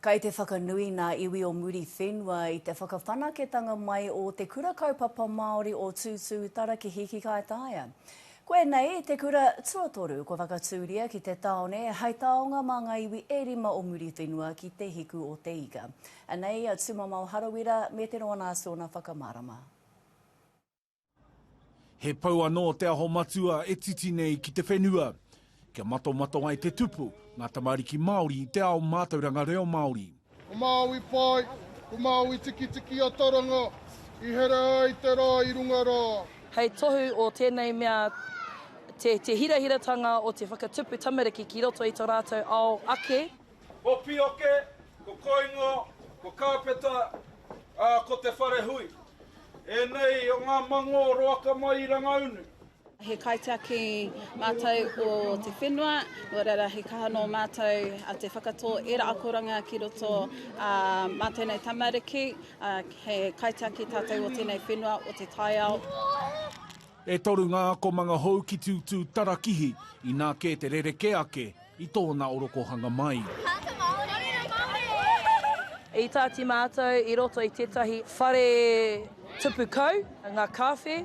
Kei te whakanui ngā iwi o Muriwhenua i te whakawhanaketanga mai o Te Kura Kaupapa Māori o Tūtūtarakihi ki Kaitaia. Koinei te kura tuatoru kua whakatūria ki te tāone hei taonga mā ngā iwi e rima o Muriwhenua ki Te Hiku o Te Ika. Anei a Tūmamao Harawira me te roa nā Sona whakamārama. He pou anō Te Aho Matua e titi nei ki te whenua. Kia matomato ai te tupu, ngā tamariki Māori i te ao mātauranga reo Māori. Ko Māui Pai, ko Māui Tikitiki a Taranga, i here ai te rā i runga rā. Hei tohu o tēnei mea te hirahiratanga o te whakatupu tamariki ki roto i to rātou ao ake. Ko Pioke, ko Koingo, ko Kāpeta, ā, ko Te Wharehui. Ēnei o ngā mangō roaka mai i Rangaunu. He kaitiaki mātou o te whenua, nō reira he kaha nō mātou te whakatō ērā akoranga ki roto mā tēnei tamariki, he kaitiaki tātou o tēnei whenua o te taiao. E toru ngā akomanga hou ki Tūtū Tarakihi, inā kē te rerekē ake i tōna orokohanga mai. I tāti mātou i roto i tētahi whare tupu kau, ngā kāwhe,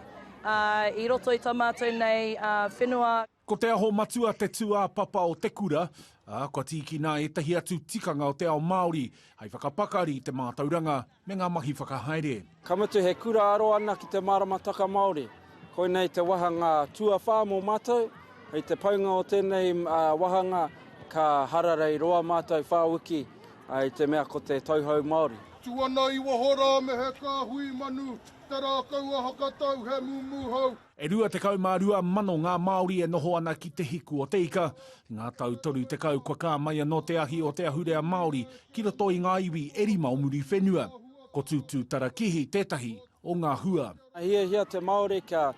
i roto i tā mātou nei whenua. Ko Te Aho Matua te tūāpapa o te kura, ā, kua tīkina ētahi atu tikanga o te ao Māori hei whakapakari i te mātauranga me ngā mahi whakahaere. Ka mutu he kura aro ana ki te māramataka Māori, koinei te wāhanga tuawhā mō mātou, hei te paunga o tēnei wāhanga ka hararei roa mātou whā wiki i te mea ko te Tauhou Māori. Tū ana i waho rā me he kāhui manu, te rākau a Hakatau he mūmūhau. E rua tekau mā rua mano ngā Māori e noho ana ki Te Hiku o Te Ika. I ngā tau toru tekau kua kā mai anō te ahi o te ahurea Māori ki roto i ngā iwi e rima o Muriwhenua. Ko Tūtūtarakihi tētahi o ngā hua. Ka hiahia te Māori kia,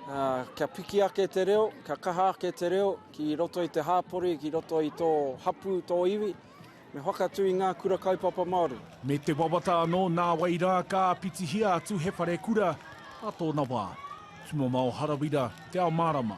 ā, kia piki ake te reo, kia kaha ake te reo ki roto i te hāpori, ki roto i tō hapū, tō iwi. Me whakatū i ngā kura kaupapa Māori. Me te wawata anō nāwai rā ka āpitihia atu he wharekura ā tōna wā. Ki Mamao Harawira, Te Ao Mārama.